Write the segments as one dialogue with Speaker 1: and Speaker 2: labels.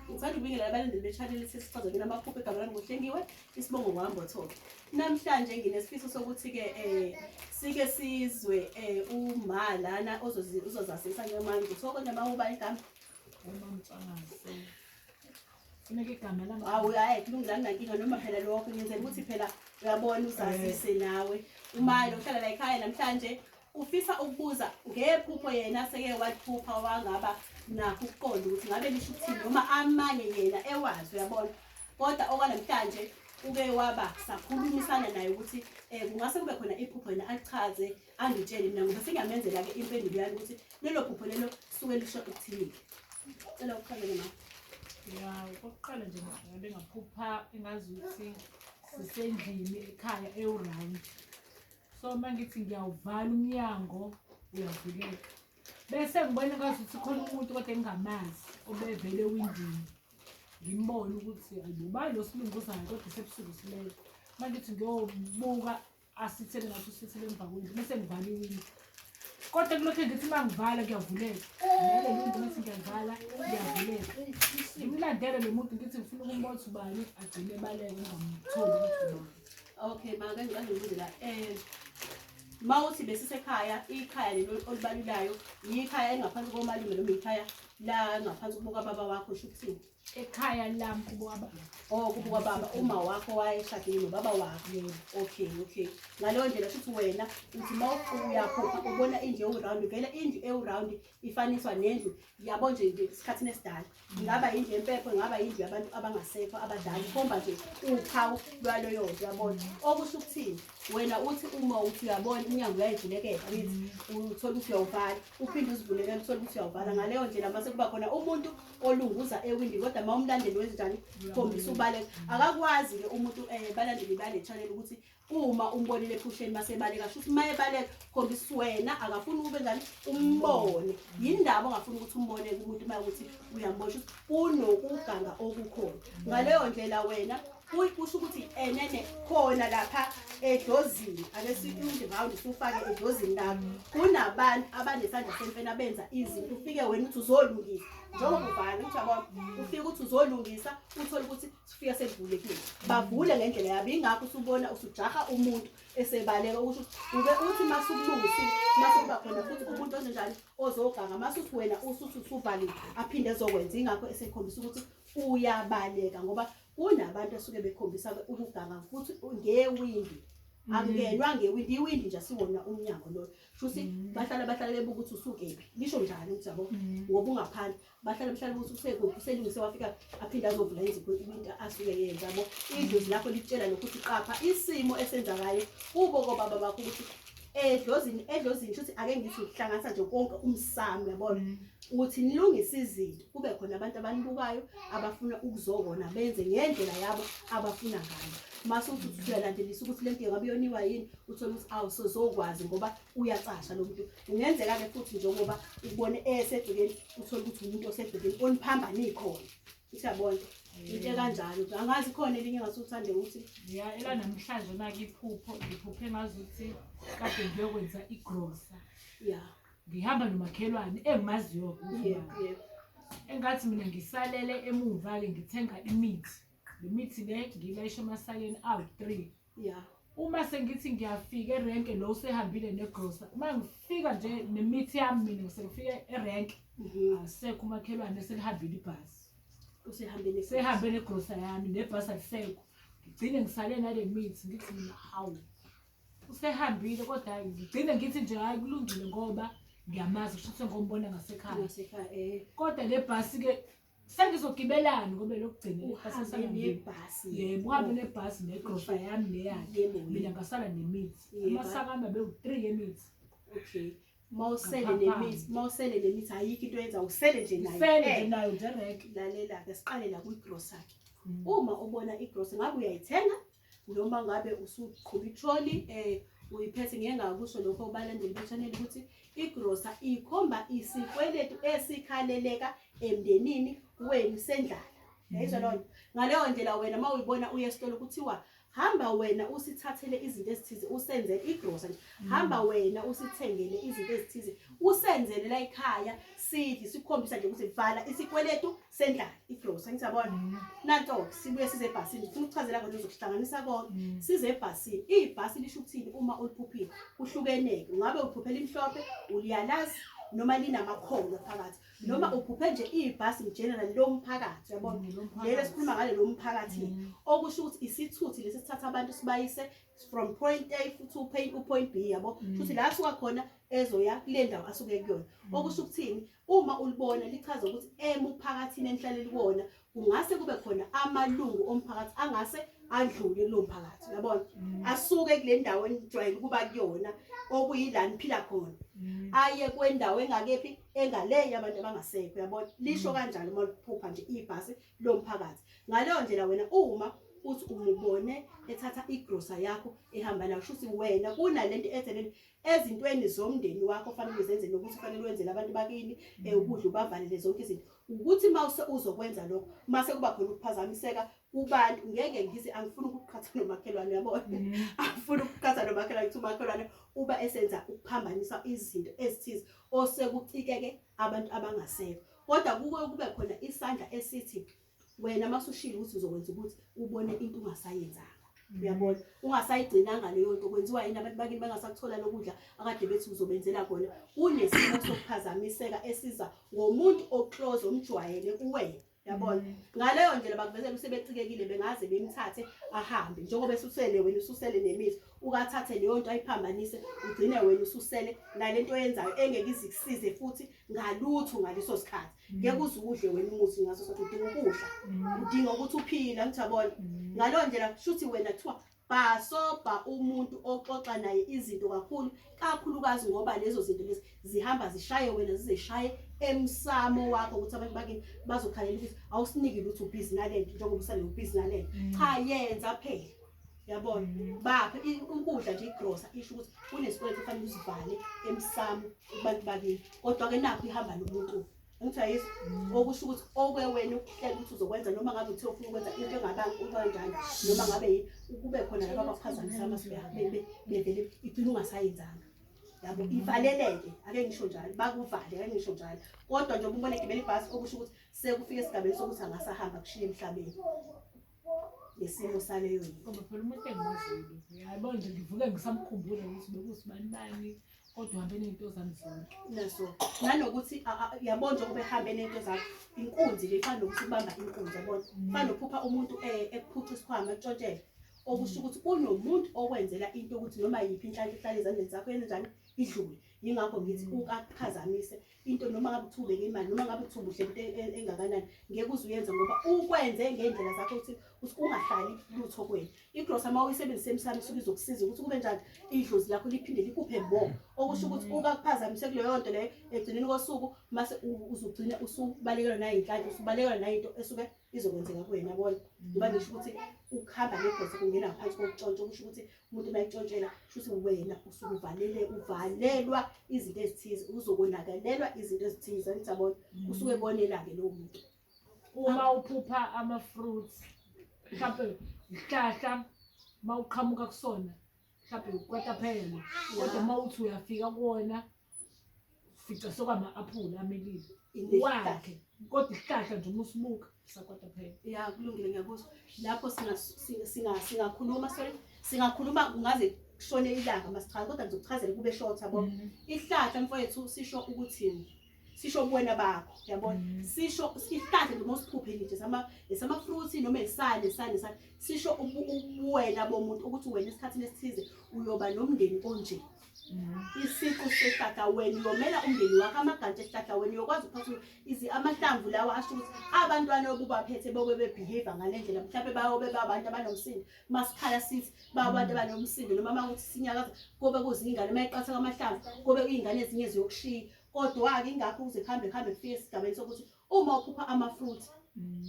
Speaker 1: Ngithanda ukubingelela abalandeli be-channel sesichaza mina amaphupho egama lami ngohlengiwe isibongo ngohambo thoke namhlanje nginesifiso sokuthi-ke um sike sizwe um uma lana uzozasisa ngemanje kuthiwa konje uma uba igama
Speaker 2: awu hayi kulungilani
Speaker 1: nankinga noma phela lokho ngenzela ukuthi phela uyabona uzazise nawe umali uhlala la ekhaya namhlanje Ufisa ukubuza ngephupho yena aseke waliphupha wangaba nakho ukuqonda ukuthi ngabe lisho ukuthini noma amanye yena ewazi uyabona kodwa okwanamhlanje uke waba sakhulumisana naye ukuthi um kungase kube khona iphupho yena achaze angitshele mina ngoba sengiyamenzela-ke impendulo yami ukuthi lelo phupho lelo suke lisho ukuthini cela uqale ma ya okokuqala nje ngabe
Speaker 2: ngaphupha engazi ukuthi sisendlini ekhaya ewurandi so uma ngithi ngiyawuvala umnyango uyavuleka bese ngibona kwazi ukuthi khona umuntu kodwa engingamazi obevele ewindini ngimbone ukuthi ayibuba lo silunguzayo kodwa sebusuku silele uma ngithi ngiyobuka asithele ngathi usithele emva kwendlu bese ngivala iwindi kodwa kulokhu ngithi uma ngivala kuyavuleka lelo muntu ngithi ngiyavala kuyavuleka ngimlandele lo muntu ngithi ngifuna ukumbona ukuthi ubani agcine ebaleke ngingamtholi ukuthi ubani okay maka
Speaker 1: ngiqale ngibuze la um ma uthi besisekhaya ikhaya lelo olibalulayo yikhaya elingaphansi komalume noma yikhaya la ngaphansi kubuka baba wakho sho ukuthini ekhaya lami
Speaker 2: kubuka baba oh kubuka baba
Speaker 1: uma wakho wayeshadile nobaba wakho yena okay okay ngaleyo ndlela shuthi wena uthi ma uyaphupha ubona indlu ewu-round vele indlu ewu-round ifaniswa nendlu yabo nje nje isikhathini esidala ingaba yindlu yempepho ingaba yindlu yabantu abangasekho abadala ikhomba nje uphawu lwaloyo nto yabona okusho ukuthini wena uthi uma uthi uyabona umnyango uyayivulekela uyithi uthola ukuthi uyawuvala uphinde uzivulekela uthole ukuthi uyawuvala ngaleyo ndlela mase kuba khona umuntu olunguza ewindi kodwa ma umlandeli wenzenjani khombisa ubaleka akakwazi-ke umuntu um balandeli bale chanel ukuthi uma umbonile ephusheni masebaleka shuthi uma ebaleka khombisa wena akafuni ukube njani umbone yindaba ongafuni ukuthi umbone kumuntu uma ukuthi uyambona shuthi kunokuganga okukhona ngaleyo ndlela wena kusho ukuthi enene khona lapha edozini ake sikunje round sufake edozini lakho kunabantu abanesandla semfena benza izinto ufike wena uthi uzolungisa njengoba uvala ukuthi yabona ufike ukuthi uzolungisa uthole ukuthi sifika sekuvulekile bavule ngendlela yabo ingakho usubona usujaha umuntu esebaleka ukuthi uke uthi masukulungisi masukuba khona futhi umuntu onjani ozoganga masuthi wena usuthi usuvaliwe aphinde ezokwenza ingakho esekhombisa ukuthi uyabaleka ngoba kunabantu asuke bekhombisa ukuganga futhi ngewindi Mm. akungenwa ngewindi iwindi nje siwona umnyango loyo shuthi mm. bahlala bahlala bebuka ukuthi usukephi lisho njani ukuthi yabo mm. ngoba ungaphandle bahlale mhlawumbe ukuthi usekuphi uselungise wafika aphinde azovula izipho into asuke yenza bo idlozi lakho litshela lokhu ukuthi qapha isimo esenzakayo kubo kobaba bakho ukuthi edlozini edlozini shuthi ake ngithi ukuhlanganisa nje konke umsamo yabona mm. ukuthi nilungise izinto kube khona abantu abanibukayo abafuna ukuzokona benze ngendlela yabo abafuna ngayo mase uthi usuyalandelisa ukuthi lento ngabe yoniwa yini uthole ukuthi awusozokwazi ngoba uyacasha lo muntu kungenzeka-ke futhi njengoba ubone esedukeni uthole ukuthi umuntu osedukeni oniphambane ikhona usiyabona into ekanjalo angazi khona elinye ngase uthande ukuthi ya ela namhlanje
Speaker 2: onake iphupho ngiphuphe ngazi ukuthi kade ngiyokwenza igrosa ya
Speaker 1: ngihamba
Speaker 2: nomakhelwane engimaziyo engathi mina ngisalele emuva-ke ngithenga imithi le mithi le ngilayisha emasakeni awu-three ya
Speaker 1: uma sengithi
Speaker 2: ngiyafika erenke lo usehambile negrosa uma ngifika nje nemithi yami mina ngisengifike erenke mhm. asekho umakhelwane selihambile ibhasi usehambile sehambe negrosa yami nebhasi alisekho ngigcine ngisale nale mithi ngithi mina hawu usehambile kodwa ngigcine ngithi nje hayi kulungile ngoba ngiyamazi kusho ukuthi ngombona ngasekhaya eh. kodwa le bhasi-ke sengizogibelani ngoba lokugcina ibhasi yebo
Speaker 1: uhambe nebhasi
Speaker 2: negrosha yami neyakhe mina ngasala nemithi amasaka ami abewu-three yemithi okay
Speaker 1: mawusele nemithi mawusele nemithi ayikho into yenza usele nje nayo njerek
Speaker 2: lalela-ke siqale
Speaker 1: la kwigrosa-ke mm. uma ubona igrosa ngabe uyayithenga noma ngabe usuqhuba itroli um eh, uyiphethe ngeke ngakusho lokho kubalandeli bechaneli ukuthi igrosa ikhomba isikweletu esikhaleleka emndenini wenu sendlala yayizwa mm. lonto ngaleyo ndlela wena uma uyibona uye esitolo kuthiwa hamba wena usithathele izinto ezithize usenze igrosa nje mm. hamba wena usithengele izinto ezithize usenzele la ekhaya sidli sikhombisa nje ukuthi vala isikweletu sendlala igrosa ngisabona mm. nanto sibuye size ebhasini ngifuna ukuchazela kodwa uzokuhlanganisa konke mm. size ebhasini ibhasi lisho ukuthini uma uliphuphile uhlukeneke ungabe uphuphela imhlophe uliyalazi noma linamakhono phakathi mm. noma uphuphe nje ibhasi ngeneral lo mphakathi uyabona lelo sikhuluma ngale lo mphakathi okusho ukuthi isithuthi lesi sithatha abantu sibayise from point A futhi uphayile upoint B yabo futhi la suka khona ezoya kule ndawo asuke kuyona okusho ukuthini Uma ulibona lichaza ukuthi emuphakathini enihlale kuwona kungase kube khona amalungu omphakathi angase adlule kulo mphakathi uyabona mm. asuke kule ndawo enijwayele ukuba kuyona okuyila niphila khona mm. aye kwendawo engakephi engaleyo abantu abangasekho uyabona lisho mm. kanjalo uma liphupha nje ibhasi lo mphakathi ngaleyo ndlela wena uma uthi umubone ethatha igrosa yakho ehamba nayo shuthi wena kunalento ethe lento ezintweni zomndeni wakho fanele uzenze nokuthi fanele wenzele abantu bakini eh, ukudla ubavalele zonke izinto ukuthi uma uzokwenza lokho uma sekuba khona ukuphazamiseka kubantu ngeke ngize angifuni ukuqhatha nomakhelwane yabona mm. angifuni ukuqhatha nomakhelwane ukuthi umakhelwane uba esenza ukuphambanisa izinto ezithize osekucikeke abantu abangasekho kodwa kuke kube khona isandla esithi wena masushilo ukuthi uzokwenza ukuthi ubone into ungasayenzanga uyabona ungasayigcinanga leyo nto kwenziwa yini abantu bakini bangasakuthola lokudla akade bethi uzobenzela khona kunesimo sokuphazamiseka esiza ngomuntu oclose omjwayele kuwena yabona mm. ngaleyo ndlela bakuvezela usebecikekile bengaze bemthathe ahambe njengoba esusele wena ususele nemizi ukathathe leyo nto ayiphambanise ugcine wena ususele nale nto oyenzayo engeke izikusize futhi ngalutho ngaleso sikhathi mm. ngeke uze udle wena umuthi ngaso sokuthi udinga ukudla mm. udinga ukuthi uphile ngithi yabona mm. ngaleyo ndlela kushuthi wena kuthiwa bhasobha umuntu oxoxa naye izinto kakhulu kakhulukazi ngoba lezo zinto lezi zihamba zishaye wena zizeshaye emsamo wakho ukuthi abantu bakini bazokhalela ukuthi awusiniki lutho ubhizi nalento njengoba usale ubhizi nalento cha yenza phela yabona mm. bapha ukudla nje igrosa isho ukuthi kunesikweletu kufanele usivale emsamo kubantu bakini kodwa-ke nakho ihamba nomuntu ngithi ayisi mm. okusho ukuthi okwewena ukuhlela ukuthi uzokwenza noma ngabe uthe ufuna ukwenza into engabanjani noma ngabe yini kube khona laba abaphazamisa amasubehabebe bevele igcina ungasayenzanga yabo mm. ivaleleke ake ngisho njalo bakuvale ake ngisho njalo kodwa njengoba ubona egibela ibhasi okusho ukuthi sekufike esigabeni sokuthi angasahamba kushiye emhlabeni ngesimo saleyo ngoba phela umuntu engimaziyo
Speaker 2: yabo nje ngivuke ngisamkhumbule ukuthi bekusibani bani kodwa uhambe ney'nto zami zonke naso
Speaker 1: nanokuthi yabo nje ubehambe ney'nto zami inkunzi le ifana nokuthi ubamba inkunzi yabona mm. fana nophupha umuntu eh, ekuphuca isikhwama ekutshontshele okusho ukuthi kunomuntu okwenzela into ukuthi noma yiphi inhlanhla ihlale ezandleni zakho yenzenjani idlule yingakho ngithi mm. ukakuphazamise into noma ngabe uthi ubeke imali noma ngabe uthi ubuhle into e- e- engakanani ngeke uze uyenze ngoba ukwenze ngendlela zakho ukuthi ukuthi ungahlali lutho kwenu igrosa uma uyisebenzise emsamo isuke izokusiza ukuthi kube njani idlozi lakho liphinde likuphe mo okusho ukuthi uba kuphazamise kuleyo nto leyo egcineni kosuku mase u- uzogcina usubalekelwa nayinhlanhla usubalekelwa nayinto esuke izokwenzeka kuwena yabona ngoba ngisho ukuthi ukuhamba negrosa kungena ngaphansi kokuntshontsha okusho ukuthi umuntu bayixotshela shuthi wena usuke uvalele uvalelwa izinto ezithize uzokonakalelwa izinto ezithize angisabona mm. usuke konelake lowo muntu uma
Speaker 2: uphupha ama-fruits mhlawumpe ihlahla uma uqhamuka kusona mhlawumpe kwataphela kodwa uma uthi uyafika kuwona fica sokwama aphula amelile wakhe kodwa isihlahla nje uma usibuka sakwata phela ya kulungile
Speaker 1: ngiyakuzwa lapho singakhuluma sorry singakhuluma kungaze kushone ilanga masichaza kodwa ngizokuchazela kube short yabo mhm. ihlahla mfowethu sisho ukuthini sisho ubuwena bakho yabona mhm. sisho ihlahla noma usiphuphe nje sama esama fruits noma esale sale sale sisho ubuwena bomuntu ukuthi wena esikhathini esithize uyoba nomndeni onje isiqu sehlahla wena uyomela umndeni wakho amagantshi ehlahla wena uyokwazi ukuphatha amahlamvu lawa asho ukuthi abantwana obubaphethe bobe bebehave ngale ndlela mhlawumbe bayobe babantu abanomsindo masikhala sithi babantu abanomsindo noma uma kuthi sinyakaza kobe kuzingane uma iqatha kwamahlamvu kobe kuyingane ezinye ziyokushiya kodwa-ke ingakho ukuze kuhambe kuhambe kufike esigabeni sokuthi uma uphupha amafruit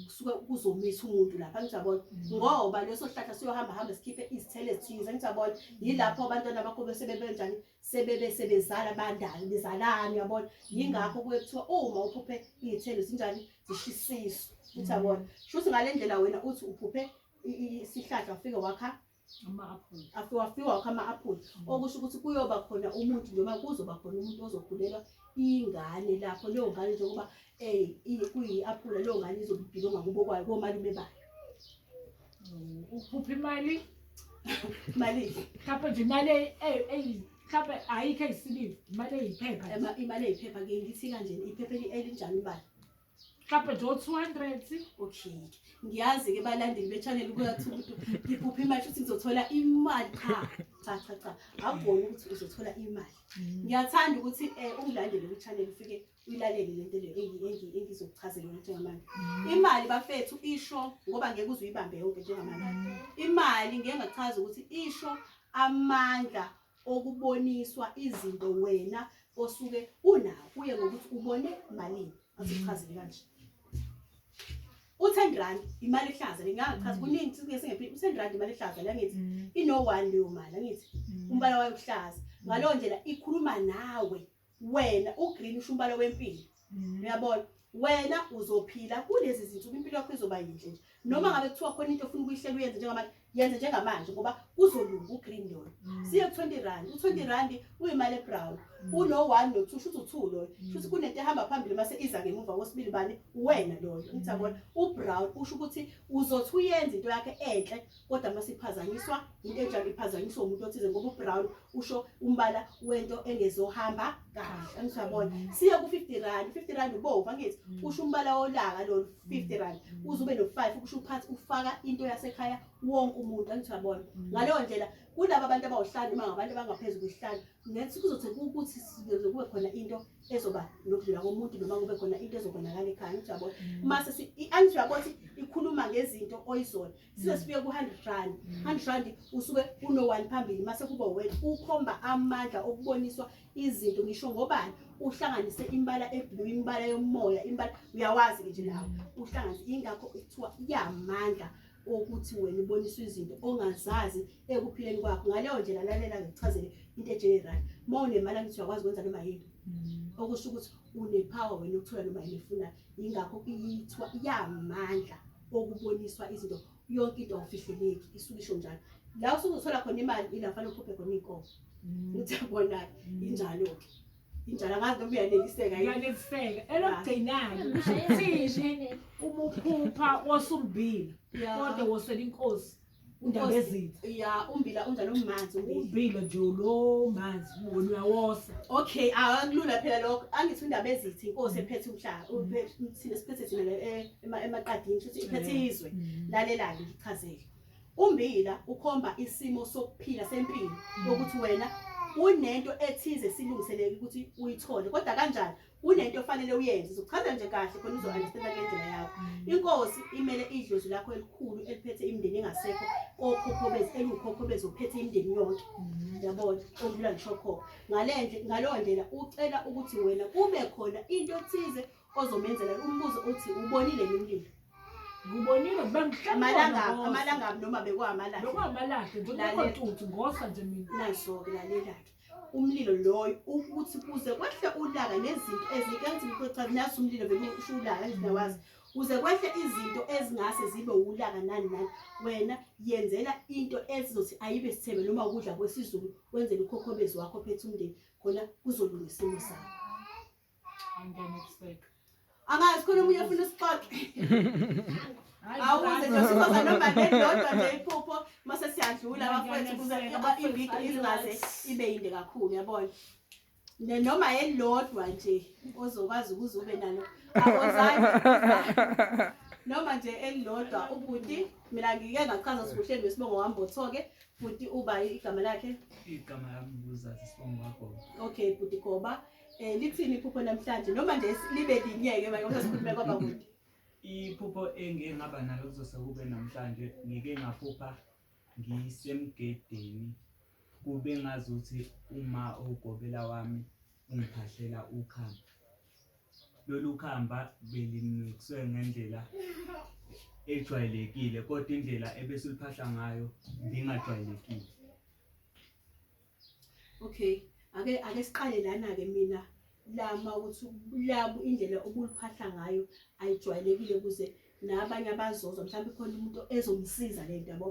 Speaker 1: kusuke kuzomisa umuntu lapha ngijabona mm. ngoba leso sihlahla siyohamba hamba sikhiphe izithelo ezithize ngijabona yilapho abantwana bakho bese bebenjani sebebe sebezala bandalo bezalani yabona yingakho kuye kuthiwa uma uphuphe izithelo zinjani zishisiso ngijabona mm. shuthi ngalendlela wena uthi uphuphe isihlahla ufike wakha
Speaker 2: afiwafiwa wakho ama-aphula mm. okusho
Speaker 1: ukuthi kuyoba khona umuntu noma kuzoba khona umuntu ozokhulelwa ingane lapho leyo ngane njengoba um kuyi-aphula leyo ngane izobe ibhilonga kubo kwayo komalume bayo mm, uphupha
Speaker 2: imali mali
Speaker 1: mhlawumpe nje
Speaker 2: imali mhlawumpe ayikho eyisibili imali eyiphepha imali eyiphepha ke
Speaker 1: ngithi kanjena iphepha elinjani imali mhlawumbe nje
Speaker 2: o-two hundred okay
Speaker 1: ngiyazi-ke balandeli betshanele ubuya kuthiwa umuntu ngiphupha imali futhi ngizothola imali cha cha cha cha akuboni ukuthi uzothola imali mm. ngiyathanda ukuthi um ungilandele kwi-channel ufike uyilalele le nto leyo engizokuchazela ukuthi ngamanje mm. imali bafethu isho ngoba ngeke uze uyibambe yonke njengamanje mm. imali ngeke ngachaza ukuthi isho amandla okuboniswa izinto wena osuke unawo kuye ngokuthi ubone malini asichazile kanje u-10 rand imali ehlaza le ngingachaza mm. kuningi sike singephile u-10 rand imali ehlaza la ngithi mm. ino-one leyo mali angithi mm. umbala wayo uhlaza ngaleyo ndlela ikhuluma nawe wena ugreen usho umbala wempilo mm. uyabona wena uzophila kulezi zinsuku impilo yakho izoba yinhle nje noma ngabe kuthiwa khona into ofuna ukuyihlela uyenze njengamanje yenze njengamanje ngoba kuzolunga ugreen yona mm. siye ku-twenty rand u-twenty rand uyimali ebrown mm. uno-one no-two shuthi u-two loyo shuthi kunento ehamba phambili mase iza ngemuva kosibili bani uwena loyo ngithabona ubrown usho ukuthi uzothi uyenza into yakhe enhle kodwa uma siphazanyiswa into enjalo iphazanyiswa umuntu othize ngoba ubrown usho umbala wento engezohamba kahle angisabona mm. siye ku-50 rand 50 rand ubomvu angithi mm. usho umbala wolaka lolu 50 rand mm. uze ube no-five ukusho uphathi ufaka into yasekhaya wonke umuntu angithi uyabona ngaleyo ndlela kulaba abantu abawuhlanu uma ngabantu abangaphezu kwehlanu ngathi kuzothi ukuthi kube khona into ezoba nokudlula komuntu noma kube khona into ezobonakala ekhaya angithi uyabona mase i-angithi uyabona ukuthi ikhuluma ngezinto oyizona size sifike ku-hundred rand mm. hundred rand usuke uno-one phambili mase kuba wena ukhomba amandla okuboniswa izinto ngisho ngobani uhlanganise imbala eblu imbala yomoya imbala uyawazi-ke nje lawo mm. uhlanganise ingakho kuthiwa iyamandla okuthi wena uboniswa izinto ongazazi ekuphileni kwakho ngaleyo ndlela lalela ngikuchazele into ejenerali uma unemali angithi uyakwazi ukwenza noma yini mm. okusho ukuthi unepower wena ukuthola noma yini efunayo yingakho iyithwa iyamandla okuboniswa izinto yonke into awufihleleki isuke isho njalo la usuke uthola khona imali ila fanele ukhuphe khona iy'nkomo mm. uthi yabona-ke mm. injalo-ke injalo angazi noma uyaneliseka uyaneliseka
Speaker 2: elokugcinayo usho ukuthini uma uphupha wosumbila kodwa wosela inkosi undaba ezitha ya umbila unjani
Speaker 1: umanzi umbila nje lo
Speaker 2: manzi ubona uyawosa okay akulula
Speaker 1: phela lokho angithi undaba ezitha inkosi mm. ephethe umhlaba mm. thina siphethe thina eh, emaqadini futhi iphethe mm. izwe lalelani ngichazele umbila ukhomba isimo sokuphila sempilo ukuthi wena unento ethize silungiseleke ukuthi uyithole kodwa kanjani kunento ofanele uyenze uzochaza nje kahle khona uzo-understanda kule ndlela yakho mm. inkosi imele idlozi lakho elikhulu eliphethe imindeni engasekho kokhokhobezi eliwukhokhobezi ophethe imindeni yonke mm. yabona okudlula ngishokhokho ngaleyo ndlela ucela ukuthi wena kube khona into thize ozomenzela umbuzo uthi ubonile ngimlilo ngibonile
Speaker 2: bemhlaamalangaamalangami
Speaker 1: noma bekwamalahleokuwamalahle
Speaker 2: njengontuthu ngosa nje mina naso-ke lalelake
Speaker 1: umlilo loyo ukuthi kuze kwehle ulaka nezinto ezinto engithi ngikuthatha naso umlilo vele usho ulaka ngiyawazi kuze kwehle izinto ezingase zibe ulaka nani nani wena yenzela into esizothi ayibe sithebe noma ukudla kwesizulu wenzele ukhokhobezi wakho phethe umndeni khona kuzolunga isimo sakho
Speaker 2: angazi khona omunye
Speaker 1: ofuna usixoxe awuze nje sizoza noma nedodwa nje iphupho mase siyadlula abafowethu kuze iviki izingaze ibe yinde kakhulu yabona noma elilodwa nje ozokwazi ukuze ube nalo awozange noma nje elilodwa ubhuti mina ngike ngachaza sibuhleni besibongo wami botho-ke bhuti uba igama lakhe igama lami
Speaker 3: nguzazi sibongo wagoba okay bhuti goba
Speaker 1: Eh lithini iphupho namhlanje noma nje libe linyeke manje ngoba sikhulume kwaba kude. Iphupho
Speaker 3: engike ngaba nalo kuzose kube namhlanje ngike ngaphupha ngisemgedeni kube ngazuthi uma ugobela wami ungiphahlela ukhamba. Lolu khamba belimixwe ngendlela ejwayelekile kodwa indlela ebese uliphahla ngayo ngingajwayelekile.
Speaker 1: okay ake ake siqale lana ke mina lama ukuthi labu indlela obuliphahla ngayo ayijwayelekile kuze nabanye abazozwa mhlawumbe khona umuntu ezomsiza le nto yabo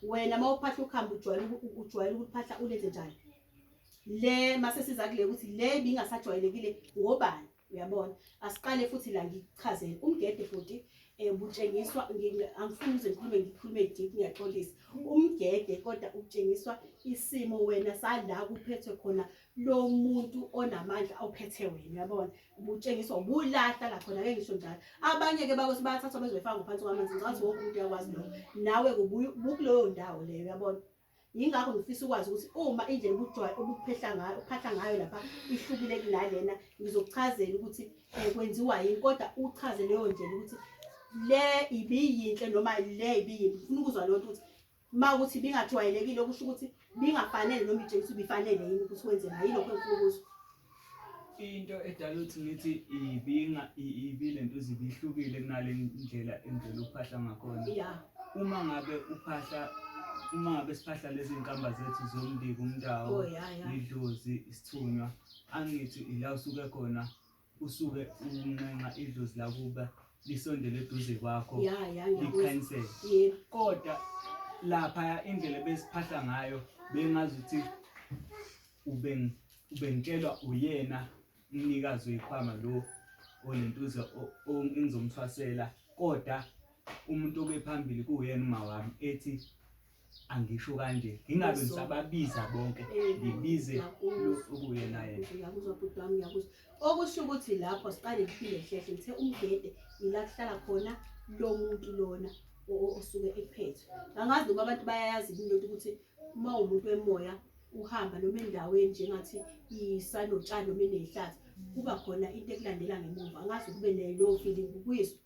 Speaker 1: wena uma uphahla ukuhamba ujwayele ujwayele ukuphahla ulenze njani le mase siza kule ukuthi le bingasajwayelekile ngobani uyabona asiqale futhi la ngikuchazele umgede futhi um eh, butshengiswa angifuni uze ngikhulume ngikhulume deep ngiyaxolisa umgede kodwa utshengiswa isimo wena sala kuphethwe khona lo muntu onamandla awuphethe wena uyabona butshengiswa ubulahla lakhona ke ngisho njalo abanye-ke bakothi bayathathwa bezoyifaka ngaphansi kwamanzi ngicathi wonke umuntu uyakwazi lokho nawe kubukuleyo ndawo leyo uyabona yingakho ngifisa ukwazi ukuthi uma indlela ubujwayo obuphehla ngayo uphahla ngayo lapha ihlukile kunalena ngizokuchazela ukuthi um kwenziwa yini kodwa uchaze leyo ndlela ukuthi le ibiyinhle noma le ibiyimbi funa ukuzwa leyo nto ukuthi uma ukuthi ibingajwayelekile okusho ukuthi bingafanele noma itshengisa ubifanele yini ukuthi wenzeka yilokho engifuna ukuzwa
Speaker 3: into edala ukuthi ngithi ibinga ibile nto zibihlukile kunale ndlela indlela uphahla ngakhona uma ngabe uphahla uma ngabe siphahla lezi nkamba zethu zombiko umndawo oh, idlozi isithunywa angithi ila usuke khona usuke unxenxa idlozi lakuba lisondele eduze kwakho likhanyisele kodwa lapha indlela besiphahla ngayo bengazi ukuthi ubeng ubengitshelwa uyena umnikazi wekhwama lo olentuza engizomthwasela kodwa umuntu obephambili kuyena uma wami ethi angisho kanje ngingabe ngisababiza bonke ngibize okuyena yena
Speaker 1: okusho ukuthi lapho siqale ngiphinde hlehle ngithe umgede ila kuhlala khona lo muntu lona osuke ephethwe angazi noma abantu bayayazi into ukuthi uma umuntu wemoya uhamba noma endaweni njengathi isanotshani noma inehlathi kuba khona into ekulandela ngemuva angazi kube nelo feeling kuyizwa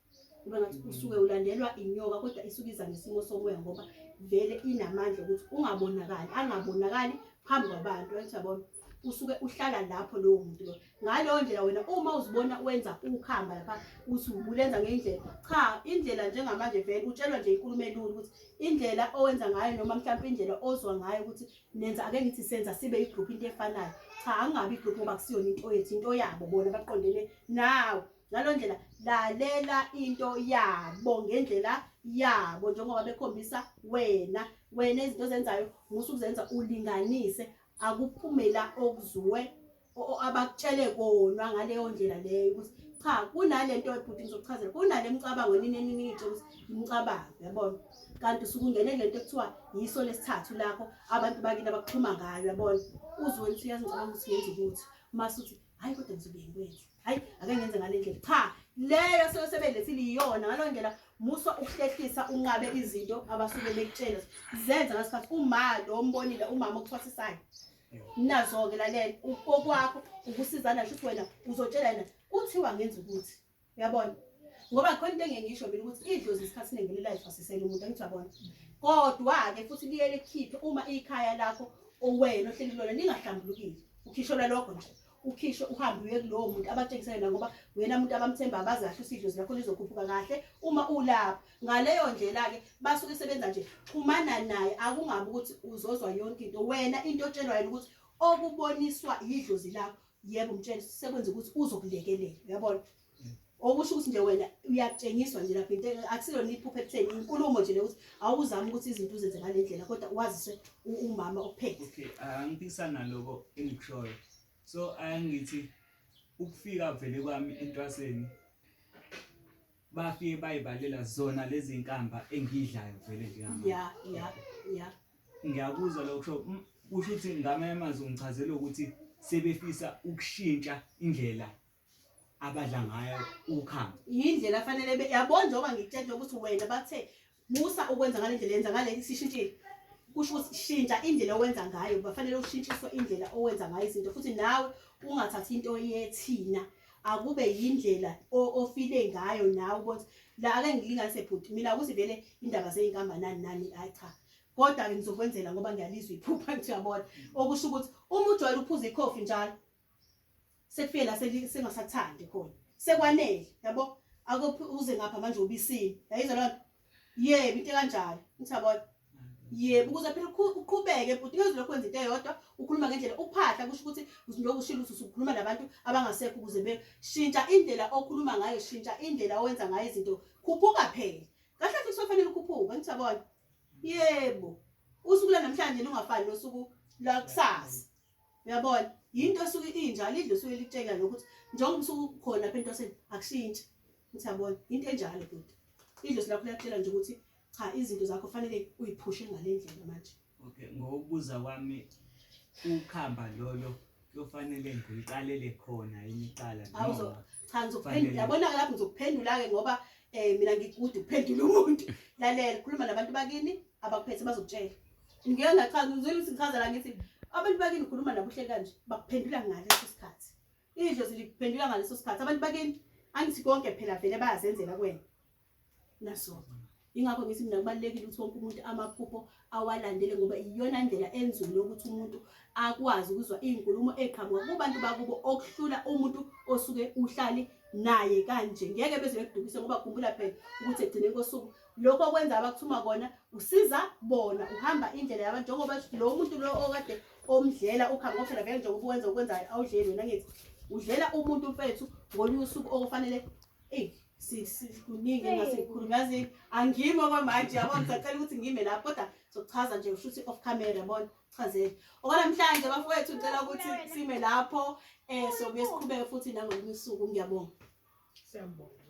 Speaker 1: kuba ngathi usuke ulandelwa inyoka kodwa isuke iza ngesimo somoya ngoba vele inamandla ukuthi ungabonakali angabonakali phambi kwabantu athi yabona usuke uhlala lapho lowo muntu loyo ngaleyo ndlela wena uma uzibona wenza ukhamba lapha uthi ubulenza ngendlela cha indlela njengamanje vele utshelwa nje inkulumo elula ukuthi indlela owenza ngayo noma mhlawumbe indlela ozwa ngayo ukuthi nenza ake ngithi senza sibe igroup into efanayo cha angabi igroup ngoba kusiyona into yethu into yabo bona baqondene nawe ngaleyo ndlela lalela into yabo ngendlela yabo njengoba bekhombisa wena wena izinto ozenzayo musukuzenza ulinganise akuphumela okuzuwe abakutshele kona ngaleyo ndlela leyo ukuthi cha kunalento ebhuti ngizokuchazela kunale micabango nini eningi itshe ukuthi imicabango yabona kanti usukungene lento ekuthiwa yiso lesithathu lakho abantu bakini abakuxhuma ngayo yabona uzwe ukuthi uyazi ngicabanga ukuthi ngenza ukuthi mase uthi hhayi kodwa ngizobe ngikwenza hhayi ake ngenze ngale ndlela cha leyo seyosebenzisile iyona ngalo ndlela musa ukuhlehlisa unqabe izinto abasuke bekutshela zenza ngasikhathi uma lo mbonile umama okuthwasisayo nazo-ke lalela kokwakho ukusizana shuthi wena uzotshela yena kuthiwa ngenza ukuthi uyabona ngoba khona into engengisho mina ukuthi idlozi isikhathi siningi lilife asisele umuntu angithi uyabona kodwa-ke futhi liye likhiphe uma ikhaya lakho owena ohleli kulona lingahlambulukile ukhishelwa lokho nje ukhishwe uhambe uye kulowo muntu abatshengisa yena ngoba wena muntu abamthemba abazi kahle usidlo zakho lizokhuphuka kahle uma ulapho ngaleyo ndlela-ke basuke sebenza nje xhumana naye akungabi ukuthi uzozwa yonke into wena into otshelwa yena ukuthi okuboniswa yidlozi lakho yebo mtshele sekwenza ukuthi uzokulekelela uyabona okusho ukuthi nje wena uyakutshengiswa nje lapho into akusilona iphupha ekutheni inkulumo nje lokuthi awuzami ukuthi izinto uzenze ngale ndlela kodwa waziswe umama ophethe okay angiphikisana
Speaker 3: naloko engikushoyo so angithi ukufika vele kwami entwaseni bafike bayibalela zona lezi nkamba engidlayo vele nje ya ya ya
Speaker 1: ngiyakuzwa
Speaker 3: lokho kusho mm, ukuthi ngamanye amazwi ngichazela ukuthi sebefisa ukushintsha indlela abadla ngayo ukhamba yindlela afanele
Speaker 1: yabona njengoba ngikutshela ukuthi wena bathe musa ukwenza ngale ndlela yenza ngale sishintshile kusho ukuthi shintsha indlela owenza ngayo bafanele ushintshiswe indlela owenza ngayo izinto futhi nawe ungathathi into yethina akube yindlela ofile ngayo nawe ukuthi la ake ngilinganise bhuti mina ukuthi vele indaba zey'nkamba nani nani ayi cha kodwa-ke ngizokwenzela ngoba ngiyalizwa iphupha ngithi uyabona okusho ukuthi uma ujwayele ukuphuza ikhofi njalo sekufike la sengasathandi khona sekwanele yabo akuphi uze ngapha manje ubisini yayizwa lona yebo into kanjalo ngithabona yebo ukuze phela uqhubeke bhuti ngezwe lokho kwenza into eyodwa ukhuluma ngendlela uphahla kusho ukuthi lokhu shilo usukhuluma nabantu abangasekho ukuze beshintsha indlela okhuluma ngayo shintsha indlela owenza ngayo izinto khuphuka phela kahle kahle kusofanele ukhuphuke ngithabona yebo usuku lanamhlanje lungafani nosuku lakusasa uyabona yinto esuke injalo idle suke litshela lokuthi njengoba usuke ukhona lapha entwaseni akushintshi uthi yabona yinto enjalo bhuti idlosi lakho liyakutshela nje ukuthi cha izinto zakho fanele uyiphushe ngale ndlela manje okay ngokubuza
Speaker 3: kwami ukhamba lolo kuyofanele ngiqalele khona imiqala cha ngizokuphendula
Speaker 1: yabona lapho ngizokuphendula-ke ngoba um mina ngikude ukuphendula umuntu lalela khuluma nabantu bakini abakuphethe bazokutshela Ngike ngachaza uzwile ukuthi ngichaza la ngithi abantu bakini ukhuluma nabo uhleli kanje bakuphendula ngaleso sikhathi. Idlozi likuphendula ngaleso sikhathi. Abantu bakini angithi konke phela vele bayazenzela kwena. Nasona. Ingakho ngithi mina kubalulekile ukuthi wonke umuntu amaphupho awalandele ngoba iyona ndlela enzulu yokuthi umuntu akwazi ukuzwa iy'nkulumo ey'qhamuka kubantu bakubo okuhlula umuntu osuke uhlale naye kanje ngeke beze bekudukise ngoba khumbula phela ukuthi ekugcineni kosuku lokho okwenza abakuthuma kona usiza bona uhamba indlela yabantu njengoba lo muntu lo okade omdlela ukhamba ngophela vele njengoba uwenza okwenzayo awudleli wena ngithi udlela umuntu mfethu ngolunye usuku okufanele eyi kuningi ngasikhulu ngazi angimi okwamanje yabona sacela ukuthi ngime lapho kodwa sokuchaza nje usho ukuthi off camera yabona chazele okwanamhlanje bafowethu ngicela ukuthi sime lapho um sobuye siqhubeke futhi nangolunye
Speaker 2: usuku
Speaker 1: ngiyabonga siyabonga